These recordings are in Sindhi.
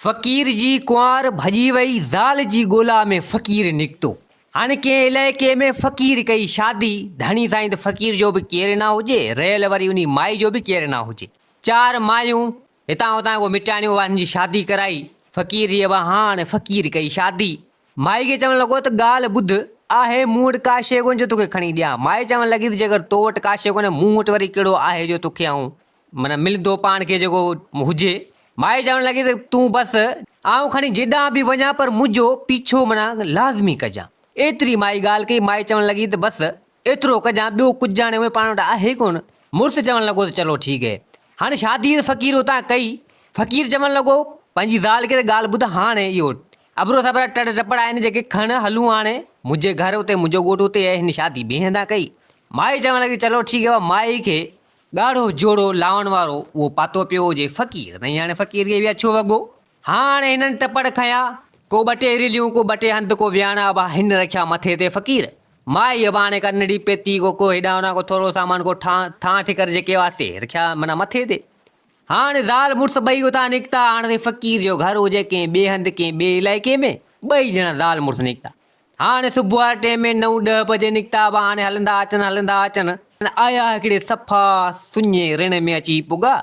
فقير جي ڪنوار ڀڄي وئي زال جي ڳولا ۾ فقير نڪتو هاڻي ڪنهن علائقي ۾ فقير ڪئي شادي ڌڻي سائين ته فقير جو به ڪير نه هجي رهيل وري انهي مائي جو به ڪير نه هجي چار مايون هتان هتان ڪو مٽياڻيون وارن جي شادي ڪرائي فقير جي وهاڻ فقير ڪئي شادي مائي کي چوڻ لڳو ته ڳالهه ٻڌ آهي مون وٽ ڪا شيء ڪونهي جو توکي کڻي ڏيان مائي چوڻ لڳي ته جيڪر تو وٽ ڪا شيء ڪونهي مون وٽ وري ڪهڙو آهي جو توکي آئون من ملندو پاڻ کي جيڪو هجي. مائي چوڻ لڳي ته تون بس آئون کڻي جيڏانهن به وڃان پر منهنجو پيڇو منا لازمي ڪجان. ايتري مائي ڳالهه ڪئي، مائي چوڻ لڳي ته بس ايترو ڪجان ٻيو ڪجهه هاڻي اوهين پاڻ وٽ آهي ڪونه. مڙس چوڻ لڳو ته چلو ٺيڪ هي. هاڻي شادي ته فقير اتان ڪئي. فقير چوڻ لڳو پنهنجي زال کي ته ڳالهه ٻڌ هاڻي اهو ابرو سبرا ٽڙ ٽپڙ آهن جيڪي کڻ هلون هاڻي منهنجي گهر اتي منهنجو ڳوٺ اتي آهي هن شادي ٻئي هنڌان ڪئي. مائي چوڻ لڳي چلو ٺيڪ هي مائي کي ڳاڙهو جوڙو لاهڻ وارو اهو پاتو پيو هجي فقير نئين هاڻي فقير کي ويا ڇو وڳو. هاڻ هنن ٽپڙ کنيا، ڪو ٻه ٽي رليون، ڪو ٻه ٽي هنڌ، ڪو وياڻ ابا هن رکيا مٿي تي فقير. مائي ابا هاڻي ڪا نڙي پيتي، ڪو ڪو هيڏانهن هوڏانهن، ڪو ٿورو سامان، ڪو ٺان ٿان ٺڪر جيڪي هئا سي رکيا معنيٰ مٿي تي. هاڻ زال مڙس ٻئي اتان نڪتا، هاڻ سائين فقير جو گهر هجي ڪنهن ٻئي هنڌ، ڪنهن ٻئي علائقي ۾، ٻئي ڄڻا زال مڙس نڪتا. هاڻي صبح واري ٽرين ۾ نو ڏهه بجي نڪتا هئا، هاڻي هلندا اچن هلندا اچن. آيا هڪڙي صفا سڃي رڻ ۾ اچي پڳا،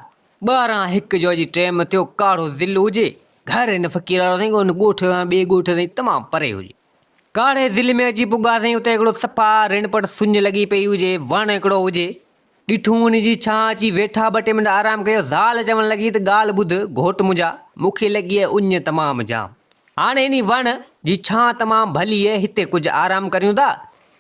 ٻاهران هڪ جو جي ٽيم ٿيو، ڪاڙهو ضلع هجي، گهر هن فقير وارو سائين ان ڳوٺ کان ٻئي ڳوٺ تائين تمام پري هجي. ڪاڙهي ضلع ۾ اچي پڳا سائين، اتي هڪڙو صفا رڻ پٽ سڃ لڳي پئي هجي، وڻ هڪڙو هجي. ڏٺو ان جي ڇانهه اچي ويٺا، ٻه ٽي منٽ آرام ڪيو، زال چوڻ لڳي ته ڳالهه ٻڌ گهوٽ منهنجا، مون کي لڳي اهي اڃ تمام جام، هاڻي انهي وڻ جي ڇانهه تمام ڀلي اهي، هتي ڪجهه آرام ڪريون ٿا،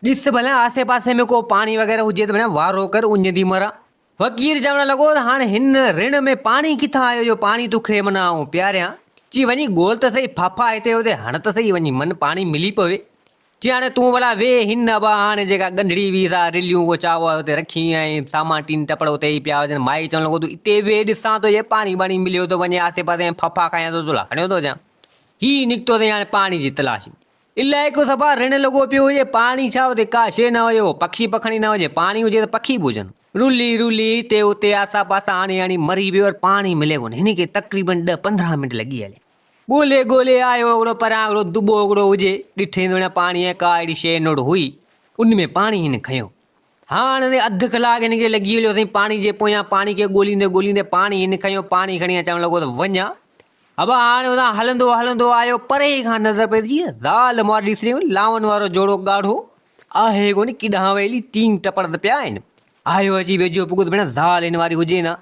ڏس ڀلا آسي پاسي ۾ ڪو پاڻي وغيره هجي ته ڀلا وارو ڪر اڃ ٿي مران. فقير چوڻ لڳو ته هاڻي هن رڻ ۾ پاڻي ڪٿان آيو جو پاڻي تو کي منا آئون پياريان، چي وڃي ڳول ته سهي، ڦاڦا هتي هتي هڻ ته سهي وڃي من پاڻي ملي پوي، چي هاڻي تون ڀلا ويهه هن ابا هاڻي جيڪا ڳنڍڙي ويهه سا رليون ڪو چاء واء اتي رکي ۽ سامان ٽين ٽپڙ اتي ئي پيا هجن مائي چوڻ لڳو تون اتي ويهه ڏسان ٿو جي پاڻي ٻاڻي مليو ٿو وڃي آسي پاسي ۽ ڦڦا کايان ٿو تلا کڻيو ٿو اچان هي نڪتو اٿئي هاڻي پاڻي جي تلاش ۾. علائقو صفا رڻ لڳو پيو هجي پاڻي ڇا اتي ڪا شيء نه هجي ڪو پکي پکڻي نه هجي پاڻي هجي ته پکي به هجن. رلي رلي هتي اتي آسا پاسا هڻي هڻي مري پيو پر پاڻي ملي ڪونه هن کي تقريبن ڏهه پندرهن منٽ لڳي هليا. ڳولي ڳولي آيو اهڙو پران اهڙو دٻو اهڙو هجي ڏٺئي ته ان پاڻي ۽ ڪا اهڙي شيء نڙ هئي ان ۾ پاڻي هن کنيو هاڻ تي اڌ ڪلاڪ هن کي لڳي هليو سائين پاڻي جي پويان پاڻي کي ڳوليندي ڳوليندي پاڻي هن کنيو پاڻي کڻي چوڻ لڳو ته وڃان ابا هاڻ اتان هلندو هلندو آيو پري کان نظر پئجي زال مور ڏسريون لانون وارو جوڙو ڳاڙهو آهي ڪونه ڪيڏانهن ويلي ٽينگ ٽپڙ ته پيا آهن آيو اچي ويجهو پڳو ته ڀيڻ زال هن واري هجي نه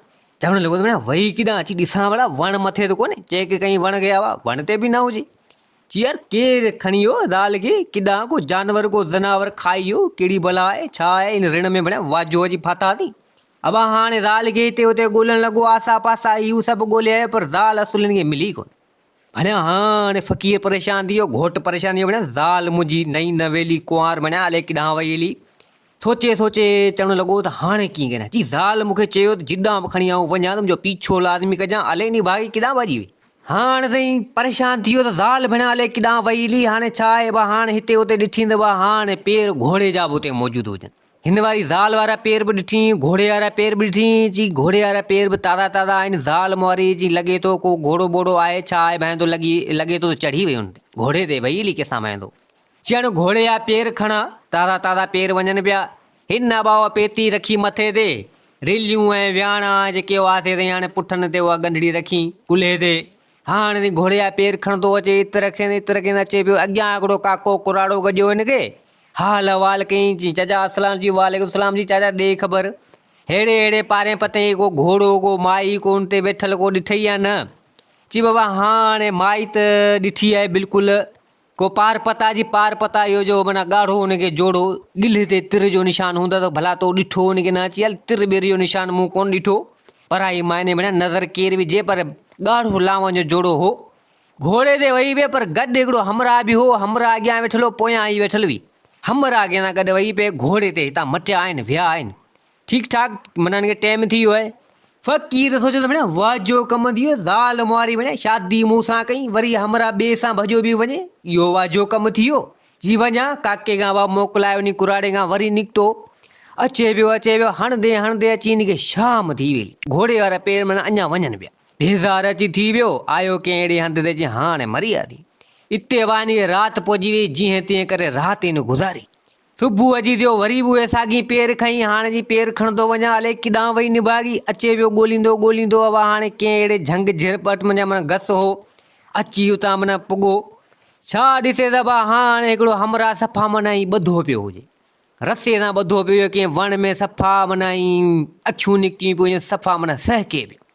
چوڻ لڳو ته ڀيڻا وئي ڪيڏانهن اچي ڏسان ڀلا وڻ مٿي ته ڪونهي چيڪ ڪئين وڻ کي آوا وڻ تي به نه هجي چي يار ڪير کڻي ويو زال کي ڪيڏانهن ڪو جانور ڪو زناور کائي ويو ڪهڙي بلا آهي ڇا آهي ان رڻ ۾ ڀيڻا واجهو اچي ڦاٿاسين ابا هاڻي زال کي هتي هتي ڳولڻ لڳو آسا پاسا هيون سڀ ڳولي آيو پر زال اصل هن کي ملي ڪونه ڀڻيا هاڻ فقير پريشان ٿي ويو، گهوٽ پريشان ٿي ويو، ڀڻيا زال منهنجي نئين نويلي ڪنوار ڀڻيا الائي ڪيڏانهن وئي هلي. سوچي سوچي چوڻ لڳو ته هاڻي ڪيئن ڪريان؟ چي زال مون کي چيو ته جيڏانهن به کڻي آئون وڃان ته منهنجو پيڇو لازمي ڪجان، الائي انهي ڀاڳي ڪيڏانهن ڀڄي وئي. هاڻ سائين پريشان ٿي ويو ته زال ڀڻيا الائي ڪيڏانهن وئي هلي، هاڻي ڇا آهي ڀا هاڻ هتي هتي ڏٺين ته ڀا هاڻ پير گهوڙي جا به اتي موجود هجن. هن واري زال وارا پير به ڏٺيئين، گهوڙي وارا پير به ڏٺيئين، چي گهوڙي وارا پير به تازا تازا آهن، زال موريء جي لڳي ٿو ڪو گهوڙو ٻوڙو آهي ڇا آهي ڀانئيندو لڳي لڳي ٿو ته چڙهي ويون گهوڙي تي وئي علي ڪيسان ڀانئيندو، چيائين گهوڙي جا پير کڻ، تازا تازا پير وڃن پيا، هن نباهه پيتي رکي مٿي تي، رليون ۽ وياڻا جيڪي هئاسي سائين هاڻي پٺن تي اها ڳنڍڙي رکين، ڪلهي تي هاڻ ني گهوڙي جا پير کڻندو اچي عطر کين عطر کين اچي پيو اڳيان هڪڙو ڪاڪو ڪراڙو گڏيو هن کي حال احوال ڪيائين چي چاچا اسلام جي وعليڪم سلام جي چاچا ڏي خبر ههڙي ههڙي پارين پتين هي ڪو گهوڙو ڪو مائي ڪو ان تي ويٺل ڪو ڏٺئي يا نه چي بابا هاڻ مائي ته ڏٺي آهي بلڪل ڪو پار پتا جي پار پتا اهو جو معنيٰ ڳاڙهو ان کي جوڙو ڳلهي تي تر جو نشان هوندو ته ڀلا تو ڏٺو ان کي نه اچي هل تر ٻير جو نشان مون ڪونه ڏٺو پرائي معني معنيٰ نظر ڪير وجهي پر ڳاڙهو لاوان جو جوڙو هو گهوڙي تي ويهي پئي پر گڏ هڪڙو همراهه به هو همراهه اڳيان ويٺل هو پويان هي ويٺل هئي همراهه ڪنهن سان گڏ ويهي پئي گهوڙي تي هتان مٽيا آهن ويا آهن ٺيڪ ٺاڪ منا هن کي ٽيم ٿي ويو آهي فقير سوچيو ته ڀيڻا واهه جو ڪم ٿي ويو زال مهاري ڀيڻا شادي مون سان ڪئي وري همرا ٻي سان ڀڄو به وڃي اهو واهه جو ڪم ٿي ويو جي وڃا ڪاڪي کان واهه موڪلائي وڃي ڪراڙي کان وري نڪتو اچي پيو اچي پيو هڻندي هڻندي اچي هن کي شام ٿي ويئي گهوڙي وارا پير منا اڃا وڃن پيا بيزار اچي ٿي ويو آيو ڪنهن اهڙي هنڌ تي جي هاڻي مري آ ٿي اتي واهه هن کي رات پئجي ويئي جيئن تيئن ڪري رات هن گذاري صبح جي ٿيو وري به اهي ساڳي پير کنئي هاڻ جي پير کڻندو وڃان الائي ڪيڏانهن وئي نڀاڳي اچي ويو ڳوليندو ڳوليندو اهو هاڻي ڪنهن اهڙي جهنگ جهرپٽ منجهان منجهان گس هو اچي اتان منجهان پڳو ڇا ڏسي صبا هاڻ هڪڙو همراهه صفا منجهان ائين ٻڌو پيو هجي رسي سان ٻڌو پيو هجي ڪنهن وڻ ۾ صفا منجهان ائين اکيون نڪتيون پيون هجن صفا منجهان سهڪي پيو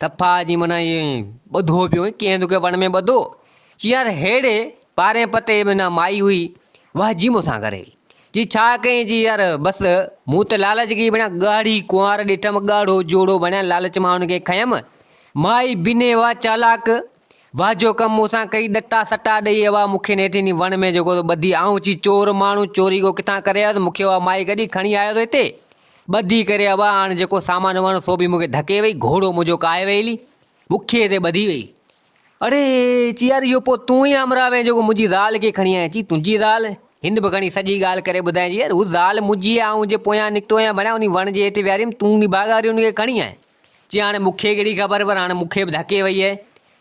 تپا جي منا ائين ٻڌو پيو ڪيئن تو کي وڻ ۾ ٻڌو چيار هيڙي پارين پتي منا مائي هئي واه جي مونسان ڪري جي ڇا ڪئين جي يار بس مون ته لالچ کي بنا ڳاڙهي ڪنوار ڏٺم ڳاڙهو جوڙو بڻيا لالچ مان ان کي کنيم مائي بني واه چالاڪ واه جو ڪم مونسان ڪئي ڏٽا سٽا ڏئي واه مون کي نيٺ اني وڻ ۾ جيڪو تو ٻڌي آئون چي چور ماڻهو چوري ڪو ڪٿان ڪري آيو مون کي واه مائي ڪڏي کڻي آيو تو هتي ٻڌي ڪري ابا هاڻ جيڪو سامان ومان هو سو به مون کي ڌڪي وئي، گهوڙو منهنجو ڪاهي وئي هلي، بکيء تي ٻڌي وئي. اڙي! چي يار اهو پوء تون ئي همراهه وئين جيڪو منهنجي زال کي کڻي آئين. چي تنهنجي زال؟ هن به کڻي سڄي ڳالهه ڪري ٻڌائين. چي يار هو زال منهنجي آهي، آئون جي پويان نڪتو هيان ڀليان انهي وڻ جي هيٺ ويهاري هيم، تون نڀاڳا وري ان کي کڻي آئين. چي هاڻ مون کي ڪهڙي خبر پر هاڻ مون کي به ڌڪي وئي آهي.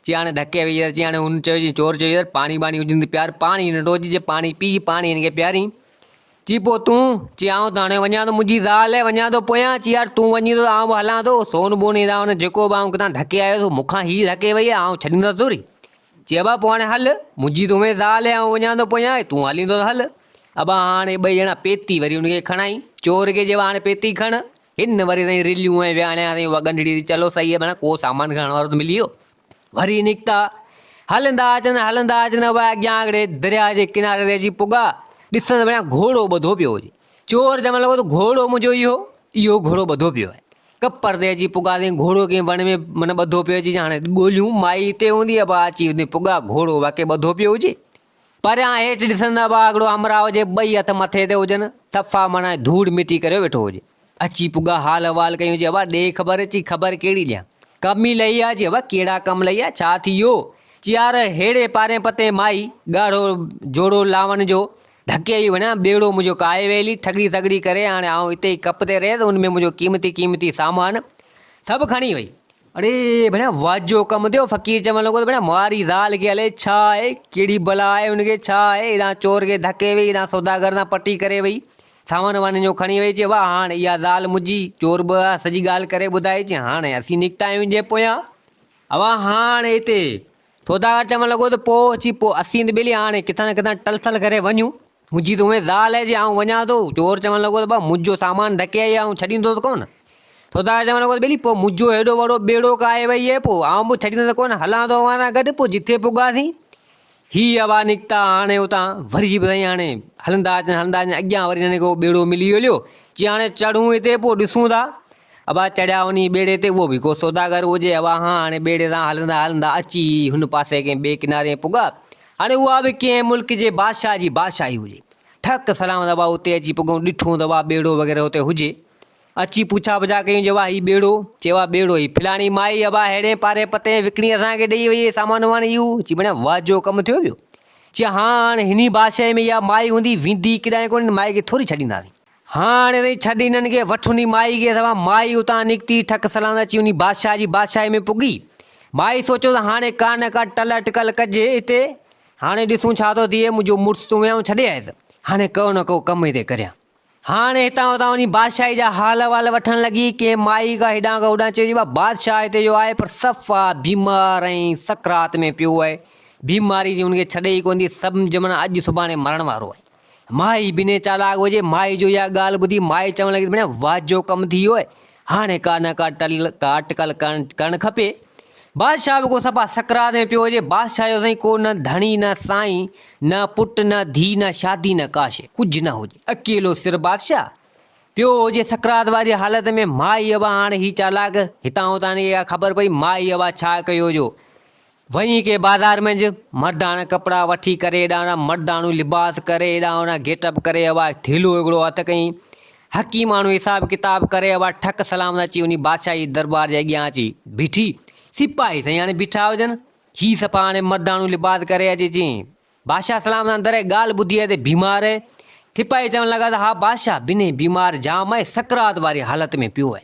چي هاڻ ڌڪي وئي يار. چي هاڻ هن چيو چي چور چيو يار پاڻي ٻاڻي هجين ته پيار، پاڻي ننڍو هجي جي پاڻي پيئي، پاڻي هن کي پيارين. چي پوء تون؟ چي آئون ته هاڻي وڃان ٿو منهنجي زال وڃان ٿو پويان چي يار تون وڃين ٿو ته آئون به هلان ٿو سون بون هيرا هن جيڪو به آئون ڪٿان ڌڪي آيو سو مون کان هي ڌڪي وئي آهي آئون ڇڏيندس ٿوري چي ابا پوء هاڻي هل منهنجي ته هومي زال آئون وڃان ٿو پويان تون هلين ٿو ته هل ابا هاڻي ٻئي ڄڻا پيتي وري هن کي کڻائين چور کي چيو هاڻي پيتي کڻ هن وري سائين رليون ۽ وياڻيا سائين اها ڳنڍڙي چلو سائي منا ڪو سامان کڻڻ وارو ته ملي ويو وري نڪتا. هلندا اچن هلندا اچن اهي اڳيان آڳڙي درياء جي ڪناري تي اچي پڳا. ڏسن ته بڻيا گهوڙو ٻڌو پيو هجي. چور چوڻ لڳو ته گهوڙو منهنجو اهو اهو گهوڙو ٻڌو پيو آهي. ڪپر تي اچي پڳا تائين گهوڙو ڪنهن وڻ ۾ من ٻڌو پيو اچي هاڻي ڳوليون مائي هتي هوندي ابا اچي هتي پڳا گهوڙو واقعي ٻڌو پيو هجي. پريان هيٺ ڏسن ته ٻاگهڙو همراهه جي ٻئي هٿ مٿي تي هجن، تفا مڻ ۽ ڌوڙ مٽي ڪريو ويٺو هجي. اچي پڳا حال احوال ڪيون چي ابا ڏي خبر، چي خبر ڪهڙي ڏيان؟ ڪم ئي لهي آ، چي ابا ڪهڙا ڪم لهي آ، ڇا ٿي ويو؟ چي يار ههڙي پارين پتين مائي، ڳاڙهو جوڙو لاوڻ جو، ڌڪي ئي وڃان، ٻيڙو منهنجو ڪاهي ويلي، ٺڳڙي ٿڳڙي ڪري هاڻي آئون اتي ئي ڪپ تي رهيس، ان ۾ منهنجو قيمتي قيمتي سامان سڀ کڻي وئي. اڙي ڀيڻا واڄ جو ڪم ٿيو فقير چوڻ لڳو ته ڀيڻا ماري زال کي هلي ڇا آهي ڪهڙي بلا آهي ان کي ڇا آهي هيڏانهن چور کي ڌڪي وئي هيڏانهن سوداگر سان پٽي ڪري وئي سامان وامان جو کڻي وئي چي واه هاڻ اها زال منهنجي چور به اها سڄي ڳالهه ڪري ٻڌائي چي هاڻ اسين نڪتا آهيون جي پويان اوهان هاڻ هتي سوداگر چوڻ لڳو ته پوء اچي پوء اسين ته ٻيلي هاڻي ڪٿان نه ڪٿان ٽل ٿل ڪري وڃون. منهنجي ته اوهين زال آهي جي آئون وڃان ٿو. چور چوڻ لڳو ته ڀا منهنجو سامان ڍڪي آئي آئون ڇڏيندو ته ڪونه. سوداگر چوڻ لڳو ته ٻيلي پوء منهنجو هيڏو وڏو ٻيڙو ڪاهي وئي آهي پوء آئون به ڇڏيندو ته ڪونه هلان ٿو اوهان سان گڏ پوء جتي پڳاسين. هي اڀا نڪتا هاڻي اتان وري به سائين هاڻي هلندا اچن هلندا اچن اڳيان وري هنن کي اهو ٻيڙو ملي هليو چي هاڻي چڙهون هتي پوء ڏسون ٿا ابا چڙهيا انهيء ٻيڙي تي، اهو به ڪو سوداگر هجي. ابا هان هاڻي ٻيڙي تان هلندا هلندا اچي هن پاسي ڪنهن ٻئي ڪناري پڳا. هاڻي اها به ڪنهن ملڪ جي بادشاهه جي بادشاهي هجي. ٺڪ سلامت ابا اتي اچي پڳئون. ڏٺون ته ابا ٻيڙو وغيره اتي هجي. اچي پڇا پڇا ڪيون جي ابا هي ٻيڙو؟ چي ابا ٻيڙو هي فلاڻي مائي ابا ههڙين پاري پتين وڪڻي اسان کي ڏئي وئي هي سامان وامان اهو. چي بڻيا واهه جو ڪم ٿيو پيو. چي هان هاڻي هني بادشاهي ۾ اها مائي هوندي ويندي ڪيڏانهن ڪونه ان مائي کي ٿوري ڇڏينداسين. هاڻ ري ڇڏ انهن کي، وٺ انهي مائي کي سوا. مائي اتان نڪتي، ٺڪ سلام اچي انهي بادشاهه جي بادشاهي ۾ پڳي. مائي سوچيو ته هاڻي ڪا نه ڪا ٽل اٽڪل ڪجي هتي. هاڻي ڏسون ڇا ٿو ٿئي، منهنجو مڙس تون ويهان ڇڏي آيس، هاڻي ڪو نه ڪو ڪم هتي ڪريان. هاڻ هتان هتان انهي بادشاهي جا حال احوال وٺڻ لڳي. ڪنهن مائي کان هيڏانهن کان هوڏانهن چيو ته بادشاهه هتي جو آهي پر صفا بيمار ۽ سڪرات ۾ پيو آهي. بيماري جي هن کي ڇڏ ئي ڪونه ٿي. سمجهه معنيٰ اڄ سڀاڻي مرڻ وارو آهي. مائي بنهي چالاڪ هجي، مائي جو اها ڳالهه ٻڌي مائي چوڻ لڳي ته ڀيڻ واهه جو ڪم ٿي ويو آهي، هاڻي ڪا نه ڪا ٽل ڪا اٽڪل ڪرڻ کپي. بادشاهه به ڪو صفا سڪرات ۾ پيو هجي، بادشاهه جو سائين ڪو نه ڌڻي نه سائين، نه پٽ نه ڌيء نه شادي نه ڪا شيء، ڪجهه نه هجي، اڪيلو سر بادشاهه پيو هجي سڪرات واري حالت ۾، مائي اها هاڻي هي چالاڪ هتان هتان هن کي اها خبر پئي، مائي اها ڇا ڪيو جو وڃي ڪي بازار منجھ مرداڻا ڪپڙا وٺي ڪري ايڏاڻا مرداڻو لباس ڪري ايڏاڻا گيٽ اپ ڪري اھوا ٿيلھو ھڪڙو ھٿ ڪئين حڪيماڻو حساب ڪتاب ڪري اھوا ٺڪ سلام سان اچي انھي بادشاھي درٻار جي اڳيان اچي بيٺي سپاھي سائين ھاڻي بيٺا ھجن ھي صفا ھاڻي مرداڻو لباس ڪري اچي چين بادشاهه سلام سان دري ڳالهه ٻڌي آهي ته بيمار آهي. سپاهي چوڻ لڳا ته ها بادشاهه بنهي بيمار جام آهي سڪرات واري حالت ۾ پيو آهي.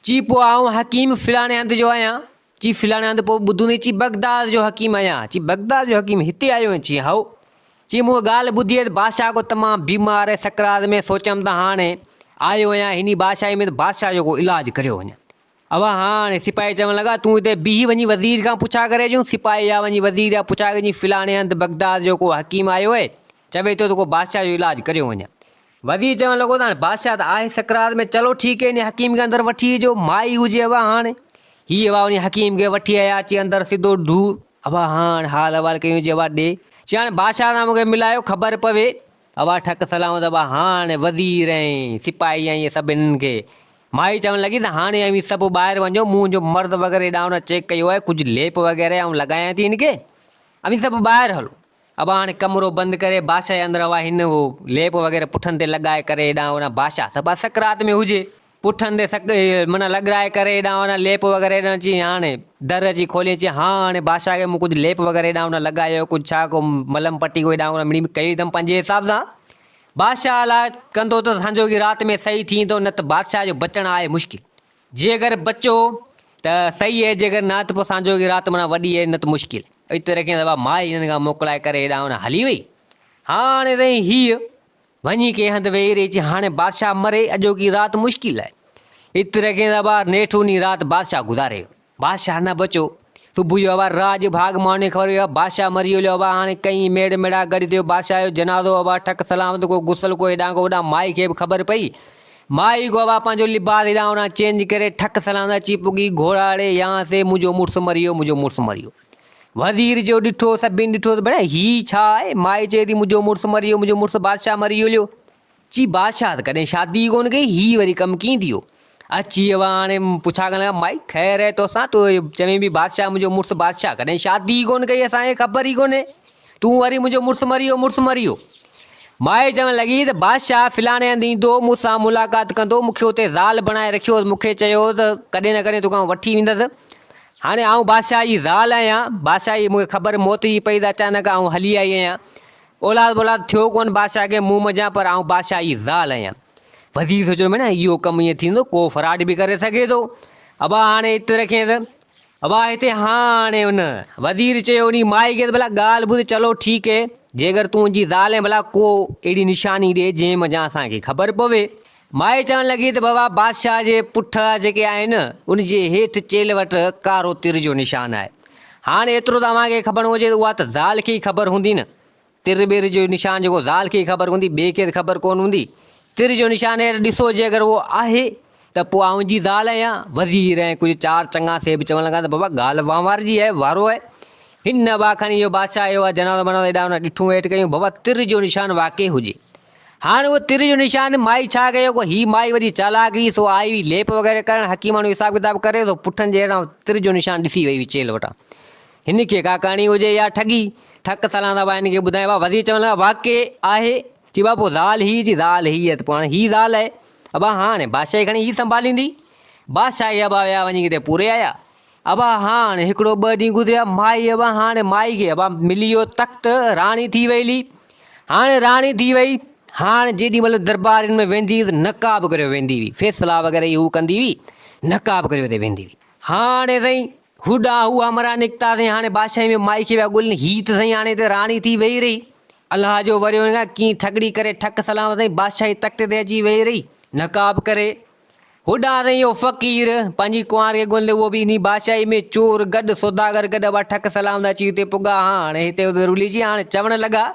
چي پوء آئون حڪيم فلاڻي هنڌ جو آهيان. چي فلاڻي هنڌ پوء ٻڌوندين چي بغداد جو حڪيم آهيان. چي بغداد جو حڪيم هتي آيو آهين چي هائو. چي مون ڳالهه ٻڌي آهي ته بادشاهه ڪو تمام بيمار آهي سڪرات ۾ سوچيم ته هاڻي آيو آهيان هني بادشاهي ۾ ته بادشاهه جو ڪو علاج ڪريو وڃان. اوا هاڻ سپاهي چوڻ لڳا، تون هتي بيهي وڃي وزير کان پڇا ڪري اچون. سپاهي ويا وڃي وزير کان پڇا ڪري اچي فلاڻي هنڌ بغداد جو ڪو حڪيم آيو اهي، چوي ٿو ته ڪو بادشاهه جو علاج ڪريو وڃي. وزير چوڻ لڳو ته هاڻ بادشاهه ته آهي سڪرات ۾، چلو ٺيڪ هي انهي حڪيم کي اندر وٺي اچو، مائي هجي اوا هاڻ. هي اوا انهي حڪيم کي وٺي آيا اچي اندر سڌو ڍو اوا هاڻ حال احوال ڪيون جي اوا ڏي، چي هاڻ بادشاهه سان مونکي ملايو خبر پوي. اوا ٺڪ سلامت اوا هاڻ وزير ۽ سپاهي ۽ سڀ هنن کي مائي چوڻ لڳي ته هاڻي اوهين سڀ ٻاهر وڃو، مون جو مرد وغيره هيڏانهن هوڏانهن چيڪ ڪيو آهي، ڪجهه ليپ وغيره آئون لڳايان ٿي هن کي، اوهين سڀ ٻاهر هلو. ابا هاڻي ڪمرو بند ڪري بادشاهه جي اندر هئا، هن هو ليپ وغيره پٺن تي لڳائي ڪري هيڏانهن هوڏانهن بادشاهه سڀ سڪرات ۾ هجي، پٺن تي سڪ معنيٰ لڳرائي ڪري هيڏانهن هوڏانهن ليپ وغيره هيڏانهن چيائين هاڻي در اچي کوليائين چيائين ها هاڻي بادشاهه کي مون ڪجهه ليپ وغيره هيڏانهن هوڏانهن لڳايو ڪجهه ڇا ڪو ملم پٽي ڪو هيڏانهن هوڏانهن مڙيئي ڪئي اٿم پنهنجي حساب سان، بادشاهه الا ڪندو ته سانجوڳي رات ۾ صحيح ٿيندو نه ته بادشاهه جو بچڻ آهي مشڪل جيڪر بچو ته صحيح اهي جيڪر نه ته پوء سانجوڳي رات منا وڏي اهي نه ته مشڪل اتي رکين دبا ماء هنن کان موڪلائي ڪري هيڏانهن هونڏانهن هلي وئي هاڻي رهي هيء وڃي ڪنهن هنڌ ويهي رهي چي هاڻي بادشاهه مري اڄوڪي رات مشڪل آهي اتي رکين دبا نيٺ انهي رات بادشاهه گذاري ويو بادشاهه نه بچيو. صبح جو اوا راء جو ڀاڳ ماڻي خبر پيو اوا بادشاهه مري ويو اوا هاڻي ڪئين ميڙ ميڙا گڏ ٿيو بادشاهه جو جنازو اوا ٺڪ سلامت ڪو غسل ڪو هيڏانهن ڪو هوڏانهن مائي کي به خبر پئي مائي ڪو اوا پنهنجو لباس هيڏانهن هوڏانهن چينج ڪري ٺڪ سلامت اچي پڳي گهوڙاڙي يان سي منهنجو مڙس مري ويو منهنجو مڙس مري ويو وزير جو ڏٺو سڀين ڏٺو ته ڀيڻ هي ڇا آهي مائي چئي ٿي منهنجو مڙس مري ويو منهنجو مڙس بادشاهه مري ويو چي بادشاهه ته ڪڏهن شادي ئي ڪونه ڪئي، هي وري ڪم ڪيئن ٿيو؟ اچي ويا هاڻي پڇا ڪرڻ لڳا، مائي خير آهي توسان؟ تون اهو چوين پئي بادشاهه منهنجو مڙس بادشاهه ڪڏهن شادي ئي ڪونه ڪئي اسان کي خبر ئي ڪونهي تون وري منهنجو مڙس مري ويو مڙس مري ويو. مائي چوڻ لڳي ته بادشاهه فلاڻي هنڌ ايندو مون سان ملاقات ڪندو مون کي اتي زال بڻائي رکيو هوس مون کي چيو هو ته ڪڏهن نه ڪڏهن توکان وٺي ويندس هاڻي آئون بادشاهه جي زال آهيان بادشاهه جي مون کي خبر موت جي پئي ته اچانڪ آئون هلي آئي آهيان اولاد بولاد ٿيو ڪونه بادشاهه کي مون منجهان پر آئون بادشاهه جي زال آهيان. وزير سوچيو ته ڀيڻا اهو ڪم ائين ٿيندو ڪو فراڊ به ڪري سگهي ٿو. ابا هاڻي هت رکينس. ابا هتي هاڻي ان وزير چيو انهي مائي کي ته ڀلا ڳالهه ٻڌ چلو ٺيڪ هي جيڪر تون ان جي زال آهين ڀلا ڪو اهڙي نشاني ڏي جنهن منجهان اسان کي خبر پوي. مائي چوڻ لڳي ته بابا بادشاهه جي پٺ جيڪي آهن ان جي هيٺ چيلهه وٽ ڪارو تر جو نشان آهي. هاڻ ايترو ته اوهان کي کبڻ هجي ته اها ته زال کي ئي خبر هوندي نه. تر ٻير جو نشان جيڪو زال کي ئي خبر هوندي ٻئي کي ته خبر ڪونه هوندي. تر جو نشان هيٺ ڏسو جي اگر اهو آهي ته پوء آئون جي زال آهيان. وزير ۽ ڪجهه چار چڱا سيب چوڻ لڳا ته بابا ڳالهه وهنوار جي آهي، وارو آهي. هن نه ٻا کڻي اهو بادشاهه اهو آهي جنازو بنازو ايڏانهن نه ڏٺون هيٺ ڪيون بابا تر جو نشان واقعي هجي هاڻ اهو تر جو نشان مائي ڇا ڪيو ڪو هي مائي وڏي چالاڪ هئي سو آئي هئي ليپ وغيره ڪرڻ حڪيماڻو حساب ڪتاب ڪري سو پٺن جي هيٺان تر جو نشان ڏسي وئي هئي چيلهه وٽان هن کي ڪا ڪهاڻي هجي يا ٺڳي ٺڪ سلاندا با هن کي ٻڌايو با وزير چوڻ لڳا واقعي آهي چي با پوء زال هي چي زال هي آهي ته پوء هاڻي هي زال آهي ابا هاڻي بادشاهي کڻي هي سنڀاليندي بادشاهي ابا ويا وڃي ڪٿي پوري آيا ابا هاڻ هڪڙو ٻه ڏينهن گذريا مائي ابا هاڻ مائي کي ابا ملي ويو تخت راڻي ٿي وئي لي هاڻ راڻي ٿي وئي هاڻ جيڏي مهل دربارين ۾ ويندي هئي ته نقاب ڪريو ويندي هئي فيصلا وغيره هي هو ڪندي هئي نقاب ڪريو تي ويندي هئي هاڻي سائين هوڏا هو همرا نڪتا سائين هاڻي بادشاهي ۾ مائي کي ويا ڳولين هي ته سائين هاڻي هتي راڻي ٿي ويهي رهي الله جو وريو هن کان ڪيئن ٺڳڙي ڪري ٺڪ سلام سائين بادشاهي تخت تي اچي ويهي رهي نقاب ڪري هو ڏاهريو فقير پنهنجي ڪنوار کي ڳوليندي اهو به انهي بادشاهي ۾ چور گڏ سوداگر گڏ اهو ٺڪ سلام اچي اتي پڳا ها هاڻي هتي اتي رلي جي هاڻي چوڻ لڳا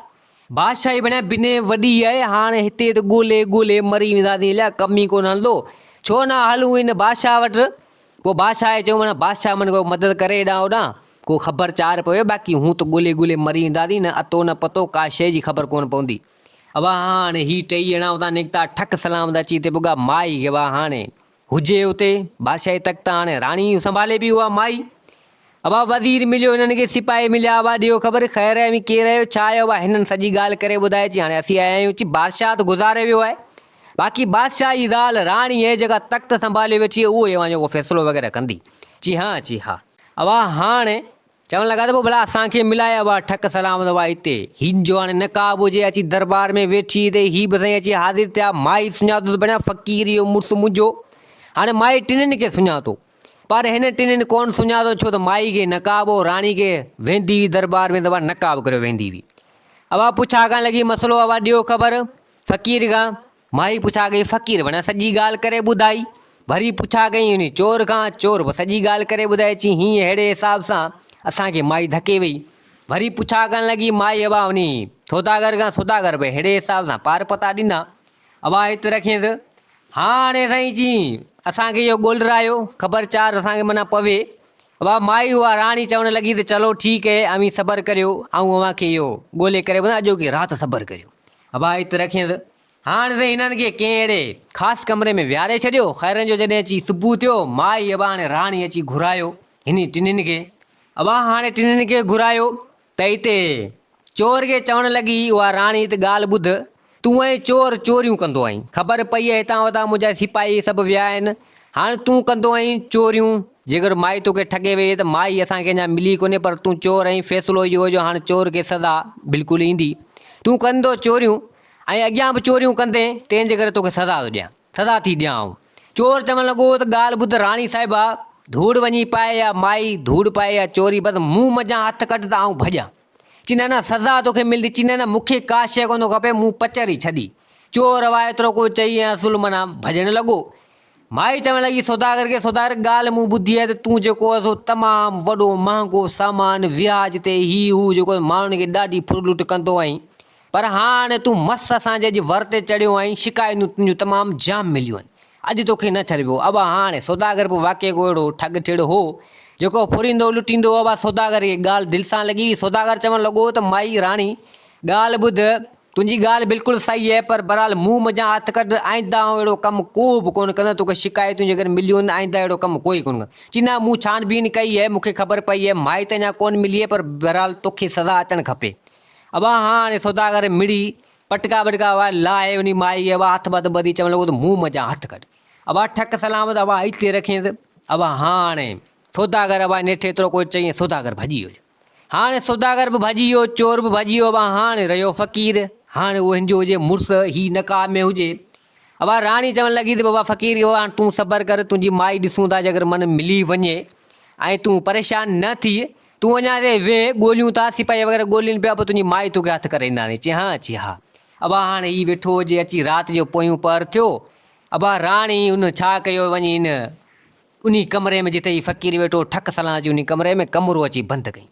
بادشاهي بڻيا بنهه وڏي آهي هاڻي هتي اتي ڳولي ڳولي مري وينداسين اليا ڪم ئي ڪونه هلندو ڇو نه هلون ان بادشاهه وٽ پوء بادشاهه کي چيو منا بادشاهه من ڪو مدد ڪري هيڏانهن هوڏانهن ڪو خبر چار پوي باقي هون ته ڳولي ڳولي مري وينداسين نه اتو نه پتو ڪا شيء جي خبر ڪونه پوندي اوا هاڻي هي ٽئي ڄڻا اتان نڪتا، ٺڪ سلام ادا چي تي پڳا، مائي کي اوا هاڻي هجي اتي، بادشاهي تخت هاڻي راڻي سنڀالي پي اوا مائي، اوا وزير مليو هنن کي سپاهي مليا اوا ڏيو خبر خير آهي اوهين ڪير آهيو ڇا آهيو اوا هنن سڄي ڳالهه ڪري ٻڌائي چي هاڻي اسين آيا آهيون چي بادشاهه ته گذاري ويو آهي باقي بادشاهه جي زال راڻي اهي جيڪا تخت سنڀالي ويٺي اهي اوهان جو ڪو فيصلو وغيره ڪندي چي ها چي ها اوا هاڻي چوڻ لڳا ته پوء ڀلا اسان کي ملائي ابا ٺڪ سلامت ابا هتي هين جو هاڻي نقاب هجي اچي دربار ۾ ويٺي ته هي به سائين اچي حاضر ٿيا مائي سڃاتو ته بڻيا فقير اهو مڙس منهنجو هاڻي مائي ٽنهن کي سڃاتو پر هن ٽنهن ڪونه سڃاتو ڇو ته مائي کي نقاب هو راڻي کي ويندي هئي دربار ۾ ته ابا نقاب ڪريو ويندي هئي ابا پڇا ڪرڻ لڳي مسئلو ابا ڏيو خبر فقير کان مائي پڇا ڪئي فقير وڻ سڄي ڳالهه ڪري ٻڌائي. وري پڇا ڪئي هن چور کان، چور به سڄي ڳالهه ڪري ٻڌائي چي هينئن ههڙي حساب سان اسان کي مائي ڌڪي وئي. وري پڇا ڪرڻ لڳي مائي ابا هن سوداگر کان سوداگر به ههڙي حساب سان پار پتا ڏنا. ابا هت رکينس. هاڻي سائين چي اسان کي اهو ڳولهه رايو خبر چار اسان کي منا پوي. ابا مائي اها راڻي چوڻ لڳي ته چلو ٺيڪ هي اوهين صبر ڪريو آئون اوهان کي اهو ڳولهي ڪري ٻڌان اڄوڪي رات صبر ڪريو. ابا ات رکينس. هاڻ سائين هنن کي ڪنهن اهڙي خاص ڪمري ۾ ويهاري ڇڏيو. خيرن جو جڏهن اچي صبح ٿيو، مائي ابا هاڻي راڻي اچي گهرايو هني ٽنهين کي. ابا هاڻي ٽنهين کي گهرايو ته ات چور کي چوڻ لڳي، اها راڻي ات ڳالهه ٻڌ، تون ۽ چور چوريون ڪندو آهين. خبر پئي هتان هتان منهنجا سپاهي سڀ ويا آهن، هاڻ تون ڪندو آهين چوريون، جيڪر مائي توکي ٺڳي ويئي ته مائي اسان کي اڃا ملي ڪونهي پر تون چور آهين، فيصلو اهو جو هاڻ چور کي سزا بلڪل ايندي. تون ڪندو چوريون ۽ اڳيان به چوريون ڪندين، تنهن جي ڪري توکي سزا ٿو ڏيان، سزا ٿي ڏيان آئون. چور چوڻ لڳو ته ڳالهه ٻڌ راڻي صاحبه، ڌوڙ وڃي پائي يا مائي، ڌوڙ پائي يا چوري، بس مون منجهان هٿ ڪڍ ته آئون ڀڄان. چينه نه سزا توکي ملدي چينه نه مونکي ڪا شيء ڪونه کپي مون پچر ئي ڇڏي چور هئا ايترو ڪو چئي ۽ اصل منا ڀڄڻ لڳو مائي چوڻ لڳي سوداگر کي سوداگر ڳالهه مون ٻڌي آهي ته تون جيڪو آهي سو تمام وڏو مهانگو سامان وياج تي هي هو جيڪو ماڻهن کي ڏاڍي ڦر لٽ ڪندو آهين پر هاڻ تون مس اسان جي اڄ ور تي چڙهيو آهين شڪايتون تنهنجون تمام جام مليون آهن اڄ توکي نه ڇڏبو ابا هاڻ. سوداگر به واقعي ڪو اهڙو ٺڳ ٺڙ هو، جيڪو ڦريندو لٽيندو هو ابا سوداگر کي ڳالهه دل سان لڳي هئي. سوداگر چوڻ لڳو ته مائي راڻي ڳالهه ٻڌ، تنهنجي ڳالهه بلڪل صحيح آهي، پر بهرحال مون منجهان هٿ ڪڍ، آئنده آئون اهڙو ڪم ڪو به ڪونه ڪندس، توکي شڪايتون جيڪڏهن مليون آهن ته آئنده اهڙو ڪم ڪو ئي ڪونه ڪندس. چي نه مون ڇان بين ڪئي آهي، مون کي خبر پئي آهي، مائي ته اڃا ڪونه ملي آهي، پر بهرحال توکي سزا اچڻ کپي. ابا هاڻ سوداگر مڙي پٽڪا ٻٽڪا اھا لاھي انھي مائيء جي اھا ھٿ ٻڌ ٻڌي چوڻ لڳو تھ منھن منجھان ھٿ ڪڍ اھا ٺڪ سلامت اھا اتي رکين تھ اھا ھاڻي سوداگر اھا نيٺ ايترو ڪو چئين سوداگر ڀڄي ويو ھاڻي سوداگر بھ ڀڄي ويو چور بھ ڀڄي ويو اھا ھاڻي رھيو فقير ھاڻي اھو ھنجو ھجي مڙس ھي نقاب ۾ ھجي اھا راڻي چوڻ لڳي تھ بابا فقير اھو ھاڻ تون صبر ڪر تنھنجي مائي ڏسون ٿا جيڪر من ملي وڃي ۽ تون پريشان نھ ٿيء تون اڃا هتي ويهه، ڳوليون ٿا، سپاهي وغيره ڳولين پيا، پوء تنهنجي مائي توکي هٿ ڪري اينداندي. چيائين، ها اچي ها. ابا هاڻ هي ويٺو هجي، اچي رات جو پويون پهر ٿيو. ابا راڻي، هن ڇا ڪيو، وڃي ان انهي ڪمري ۾ جتي هي فقير ويٺو هو، ٺڪ سلان اچي انهي ڪمري ۾ ڪمرو اچي بند ڪيائين.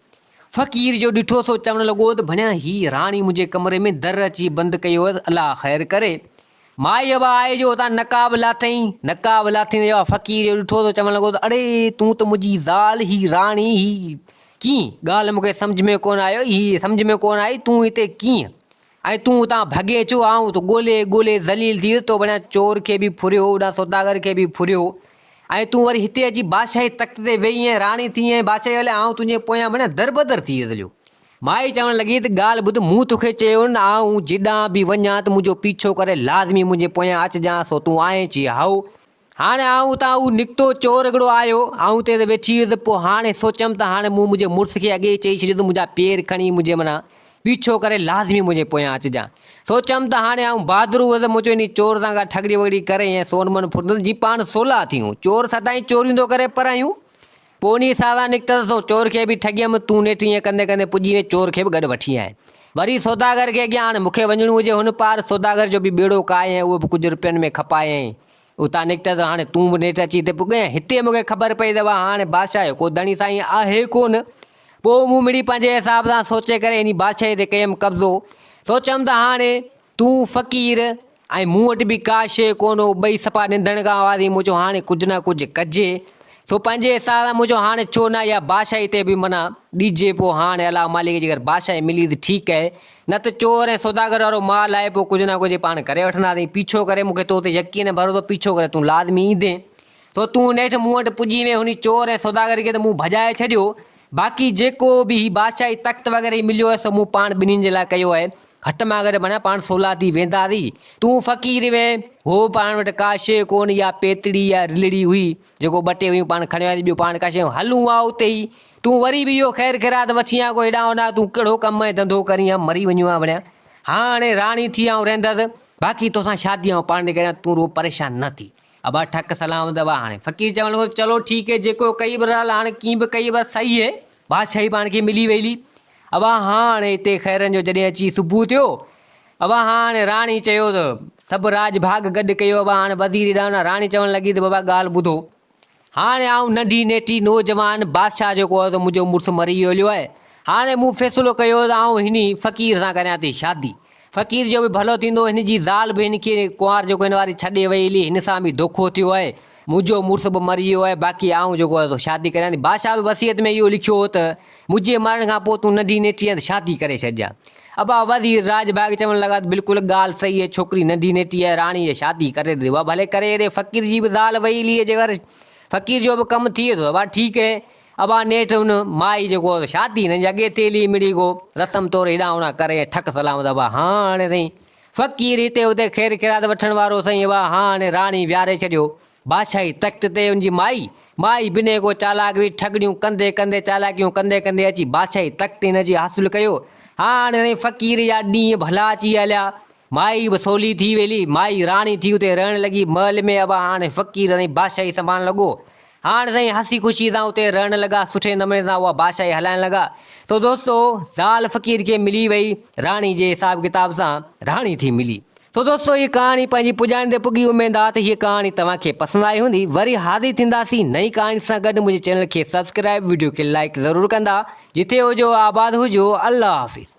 فقير جو ڏٺو سو چوڻ لڳو ته ڀڻيا هي راڻي منهنجي ڪمري ۾ در اچي بند ڪيو هئس، الله خير ڪري. ماء يوه آء جو اتان نقاب لاٿئين، نقاب لاٿيندي يوه فقير جو ڏٺو ته چوڻ لڳو ته اڙي تون ته منهنجي زال هي راڻي هي ڪيئن ڳالهه مونکي سمجهه ۾ ڪونه آئي هي سمجهه ۾ ڪونه آئي تون هتي ڪيئن ۽ تون اتان ڀڳي ڇو آئون ته ڳولي ڳولي ذليل ٿي ويس تو بنان چور کي به ڦريو هوڏانهن سوداگر کي به ڦريو ۽ تون وري هتي اچي بادشاهي تخت تي ويهي ۽ راڻي ٿي ۽ بادشاهي هلي آئون تنهنجي پويان بنان دربدر ٿي ويس هليو مائي چوڻ لڳي ته ڳالهه ٻڌ، مون توکي چيو نه ته آئون جيڏانهن به وڃان ته منهنجو پيڇو ڪري لازمي منهنجي پويان اچجانء، سو تون آئين چيئي هائو! هاڻي آئون اتان هو نڪتو، چور هڪڙو آيو، آئون تيز ويٺي هيس، پوء هاڻي سوچيم ته هاڻي مون منهنجي مڙس کي اڳي ئي چئي ڇڏيو ته منهنجا پير کڻي منهنجي معنيٰ پيڇو ڪري لازمي منهنجي پويان اچجانء. سوچيم ته هاڻي آئون بهادر هوس، مون چيو انهي چور سان ڪا ٺڳڙي وڳڙي ڪرين ۽ سون من ڦرندس، جي پاڻ سولا ٿيون. چور سدائين چوريون ٿو ڪري، پر اهيون پوء انهيء ساران نڪتس سو چور کي به ٺڳيم، تون نيٺ ائين ڪندي ڪندي پڄي وئين، چور کي به گڏ وٺي آئين. وري سوداگر کي اڳيان آڻ، مون کي وڃڻو هجي هن پار، سوداگر جو به ٻيڙو ڪاهي ۽ اهو به ڪجهه رپين ۾ کپايائين. اتان نڪتس ته هاڻي تون به نيٺ اچي هتي پڳئين ۽ هتي مون کي خبر پئي ته اها هاڻي بادشاهه جو ڪو ڌڻي سائين آهي ڪونه. پوء مون مڙئي پنهنجي حساب سان سوچي ڪري انهيء بادشاهيء تي ڪيم قبضو. سوچيم ته هاڻي تون فقير ۽ مون وٽ به ڪا شيء ڪونه هو، ٻئي صفا نندڻ کان اواز ايئن مون چيو هاڻي ڪجهه نه ڪجهه ڪجي ٿو پنهنجي حساب سان، مون چيو هاڻي ڇو نه اها بادشاهي تي به منع ڏجي، پوء هاڻي الله مالڪ جيڪر بادشاهي ملي ته ٺيڪ آهي، نه ته چور ۽ سوداگر وارو مال آهي، پوء ڪجهه نه ڪجهه پاڻ ڪري وٺنداسين، پيڇو ڪري مون کي تو تي يقين ۽ ڀروسو پيڇو ڪري تون لازمي ايندين، سو تون نيٺ مون وٽ پڄي وئين، هن چور ۽ سوداگر کي ته مون ڀڄائي ڇڏيو، باقي جيڪو به هي بادشاهي تخت وغيره هي مليو آهي سو مون پاڻ ٻنهين جي لاء ڪيو آهي. هٽ مان گڏ معنيٰ پاڻ سولا ٿي وينداسي. تون فقير وين. هو پاڻ وٽ ڪا شيء ڪونه اها پيتڙي يا رلڙي هئي جيڪو ٻه ٽي هيون پاڻ کڻي وياسي ٻيو پاڻ ڪا شيء هل هونئن آء اتي ئي تون وري به اهو خير خيرات وٺين يا ڪو هيڏانهن هوڏانهن تون ڪهڙو ڪم ۽ ڌنڌو ڪرين هان مري وڃون ها وڙهيان هاڻ هاڻي راڻي ٿي آئون رهندس باقي توسان شادي آئون پاڻ ٿي ڪريان تون رڳو پريشان نه ٿي. ابا ٺڪ سلام ادب آ هاڻي فقير چوڻ لڳو چلو ٺيڪ هي جيڪو ڪئي برحال هاڻي ڪين به ڪئي بس سهي هي بادشاهي پاڻ کي ملي ويلي ابا هاڻ هتي خيرن جو جڏهن اچي صبح ٿيو ابا هاڻ راڻي چيو ته سڀ راڄ ڀاڳ گڏ ڪيو ابا هاڻ وزير ڏانهن راڻي چوڻ لڳي ته بابا ڳالهه ٻڌو هاڻي آئون ننڍي نيٽي نوجوان بادشاهه جيڪو هو ته منهنجو مڙس مري ويو هليو آهي. هاڻي مون فيصلو ڪيو ته آئون هن فقير سان ڪريان ٿي شادي. فقير جو به ڀلو ٿيندو، هن جي زال به هن کي ڪنوار جيڪو هن واري ڇڏي وئي هلي، هن سان به ڌوکو ٿيو آهي. منهنجو مڙس به مري ويو آهي، باقي آئون جيڪو هو سو شادي ڪريان ٿي. بادشاهه به وصيت ۾ اهو لکيو هو ته منهنجي مرڻ کان پوء تون ننڍي نيٺي هنڌ شادي ڪري ڇڏجان. ابا وزير راڄ باغ چوڻ لڳا ته بلڪل ڳالهه صحيح هي، ڇوڪري ننڍي نيٺي آهي، راڻي جي شادي ڪري ته ابا ڀلي ڪري ايڏي فقير جي به زال وئيليء جي گهر فقير جو به ڪم ٿئي ٿو ته ابا ٺيڪ هي. ابا نيٺ هن مائي جيڪو هو شادي هن جي اڳي تيلي مڙئي ڪو رسم طور هيڏانهن هوڏانهن ڪري ۽ ٺڪ سلامت ابا ها هاڻي سائين فقير هتي هتي خير خيرات وٺڻ وارو سائين ابا ها هاڻي راڻي ويهاري ڇڏيو بادشاهي تخت تي ان جي مائي، مائي بنهه ڪو چالاڪ هئي، ٺڳڙيون ڪندي ڪندي، چالاڪيون ڪندي ڪندي اچي بادشاهي تخت هن جي حاصل ڪيو. هاڻ ري فقير جا ڏينهن ڀلا اچي هليا. مائي به سولي ٿي ويلي، مائي راڻي ٿي اتي رهڻ لڳي. محل ۾ اڀا هاڻ فقير ري بادشاهي سنڀالڻ لڳو. هاڻ ري هسي خوشي سان اتي رهڻ لڳا، سٺي نموني سان اها بادشاهي هلائڻ لڳا. سو دوستو زال فقير کي ملي وئي، راڻي جي حساب ڪتاب سان راڻي ٿي ملي. سو دوستو هيء ڪهاڻي پنهنجي پڄاڻي تي پڳي اميد آ ته هيء ڪهاڻي توهان کي پسند آئي هوندي وري حاضر ٿينداسين نئين ڪهاڻي سان گڏ منهنجي چينل کي سبسڪرائب وڊيو کي لائيڪ ضرور ڪندا جتي هجو آباد هجو الله حافظ.